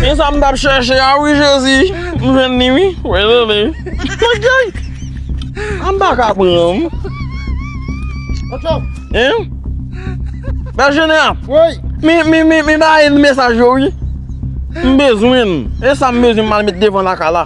Mwen sa m tap chèche a wi jezi M jwenn ni wi Mwen jwenn An bak a pranm Bel jenè a Mi ba e mesaj yo wi M bezwen E sa m bezwen mal met devan la ka la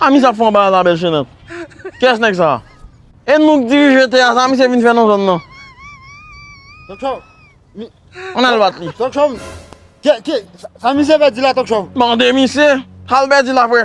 Hamis ap fè yon bagay la bèl chenèt. Kiyès nèg sa? E nou k dirije te a sa misye vin fè nan zòn nan? An al bat li. Sa misye pèdi la Tokchòv? Mande misye, sal pèdi la frè?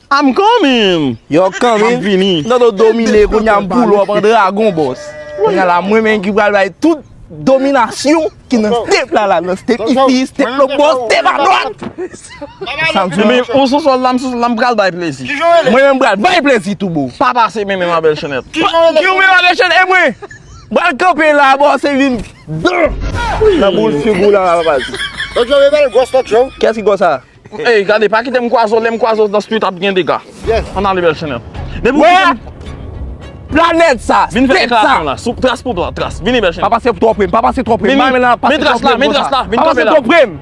I'm coming! Yo coming! Map vini! Nan nou domine kounye a m pou lòp an dragon boss! Kounye a la mwen menm ki pral bay tout dominasyon ki nan step la la nan step ici step lòp bò step a dwat! Sa m di nou! Ou sou sòl la m sou sòl la m pral bay plezi! Mwen menm m pral bay plezi tou boo! Pa pase men men ma belle chenèt! Kiw men ma belle chenèt e mwen! M pral kanpe la boo se vin dan! Nan boul figou la la baz! Tokyo rebel gwòs tokyo! Kiyès ki gwòs sa? Ey gade pa kitem kwazo lem kwazo nan street ap gen dega Yes Ann ale bèl chanel Depi ou kitem Wè Planèt sa Vin fè deklarasyon la Sou tras pou blan tras Vini bèl chanel Pa pase twò pre m Pa pase twò pre m Vini Men tras la Men tras la Vin kanpe la Pa pase twò pre m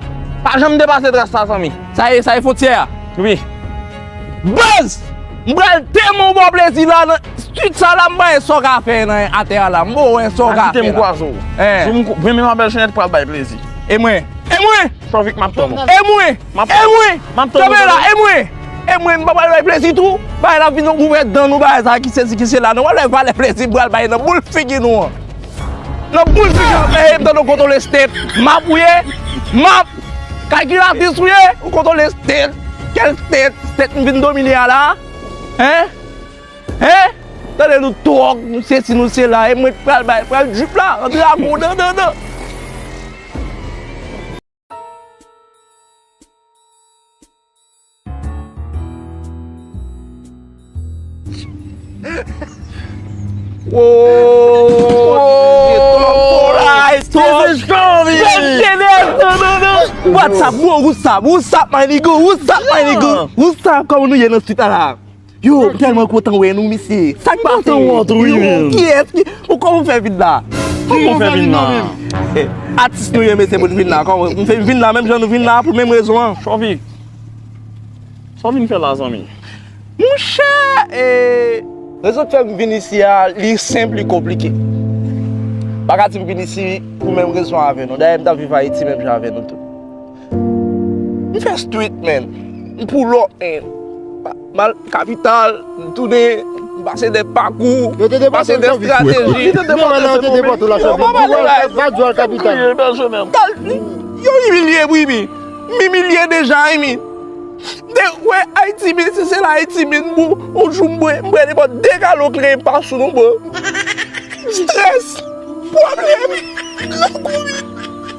Pa janm depase tras la zanmi Sa e sa e fontyè a Wi Buzz M pral tèman w ba w plezi la nan street sa la m bay e sa w ka fè nan atè a la m ba w wè sa w ka fè la Pa kitem kwazo Zoom Vini nan bèl chanel pral bay plezi E mwen E mwen. San vik map tann ou. E mwen! E mwen! Kanpe la! E mwen! E mwen! M pa pral bay plezi tou! Bagay la ap vin yon gouvèt dan nou bagay sa ki sezi ki sela nou wale valè plezi m pral bay nan boul figi nou an! Nan boul figi nou an! Mèye m tann ou koto lestet! Map ou ye! Map! Kalkilatris ou ye! Ou koto lestet! Kèl stet! Stet m vin domine a la! Hein! Hein! Tande nou tròg, nou sesi nou sela e mwen ki pral bay, pral drip la an dragon nan nan nan. What's up bro, what's up, what's up my nigga, what's up my nigga, what's up kòman nou ye nan street la la? Yo m telman kontan wè nou mesye. Sak pase yo wont wi menm. Kiyès ki ou koman ou fè vin la. Koman ou fè vin la. Atis nou ye mesye pou nou vin la. M fè vin la menm jan nou vin la pou menm rezon an. Chòvik sa w vin fè la zanmi. Monchè e. Rezon k fèm vin isi a li senp li konplike. M pa ka di m vin isi pou menm rezon avè nou. Dayè m tap viv ayiti menm jan avè nou tout. M fè street men, m pull up men, m al kapital, m tounen, m pase dè pakou, m pase dè strateji. Yo te depòte w, yo te depòte w la chèvre. Yo te depòte w la kapital. Yo imilye m wi mi, m imilye deja wi mi. Dè w wè Ayiti men se se la Ayiti men bro, yon jou m bwè, m bwè depò 2 galon krèm pa sou nou bro. Stress, pwoblèm, lakou wi.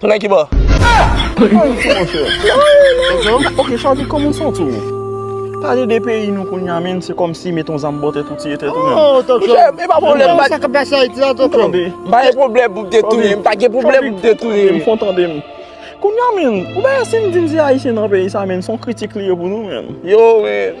Tounen ki bò? Ayiti monchè. Ok Charly kòman ou santi w? Pale de peyi nou kounya menn se kòmsi met yon zam bò tèt ou tiye tèt ou menm. Monchè e pa pwoblèm bat. Sa kap pase Ayiti la tonton? M pa gen pwoblèm pou m te touye m pa gen pwoblèm pou m te touye m. Fon tande m. Kounya menn ou wè si m di m se ayisyen nan peyi sa menn son kritik li ye pou nou menn. Yo menn.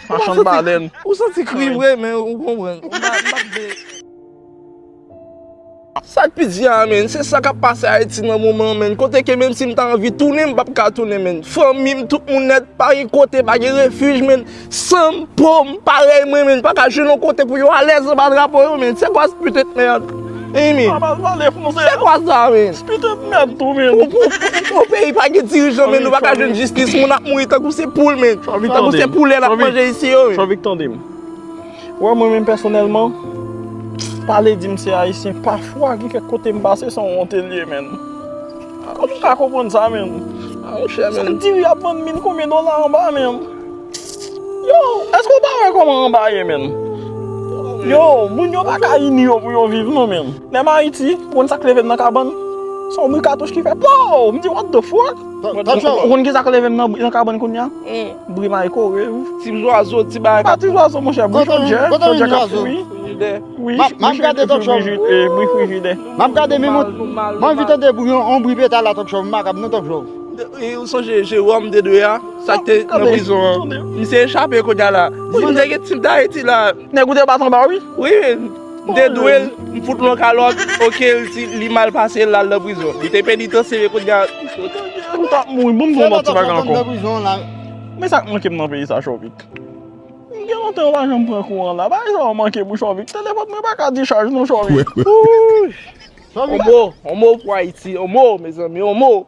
Machann balèn. Ou santi kri vre men ou konprann. Ou pa vle. Sak pi di a men, se sa kap pase Ayiti nan moman men, kote ke menm si m ta anvi tounen m pap ka tounen men, fanmi m tout moun nèt, pa gen kote, pa gen refuj men, san m, po m, parèy mwen men, pa ka jwenn yon kote pou yo alèz anba drapo yo men, se kwa se putèt merd. Amy. Sa pa pale franse. Se kwa sa men? Spit et mèd tou men. Yon peyi pa gen dirijan men nou pa ka jwenn jistis moun ap mouri tankou se poul men. Chavik tande'm. Tankou se poulèt ap manje isi yo men. Chavik tande'm. Ou wè mwen menm pèsonèlman pale di'm se ayisyen pafwa gen kèk kote m'pase son wonte liye menn. Kòman ou ka konprann sa menm? Sa diri ap vann mil konbyen dola anba menm? Yo, eske ou pa wè kòman anba ye menn? Yo, moun yo pa ka ini yo pou yo viv non menn. Menm Ayiti, ou konn sa k leve m nan kabann? Se yon bri katouch ki fè pow! M di what the fuck? Ou konn ki sa k leve m nan kabann kounya? Bri maykowave. Ti zwazo, ti bagay k ap. Pa ti zwazo monchè, bri chodjè, chodjè k ap fwi. M ap gade talk show. Bri frijidè. M ap gade menm yon, m anvi tande yon bri peta la talk show, m pa kab non talk show. Ou sonje Jérôme dedwe a? Sak te nan prizon an. Misye echape kounye a la. Dim m te gen tip dayiti la. Nèg ou te bat anba wi. Wi m te dwe l m fout l yon kalòt ok li mal pase l al nan prizon. Li te penitansye kounye a. M tap mouri bon m vin yon ti bagay ankò. Men sak manke m nan peyi sa chòvik. M gen lontan yo pa janm pran kouran la. Bagay sa yo manke pou chòvik. Telefòn mwen pa ka dichaj non chòvik. Ooh. Onmo pou ayiti onmo mezanmi onmo.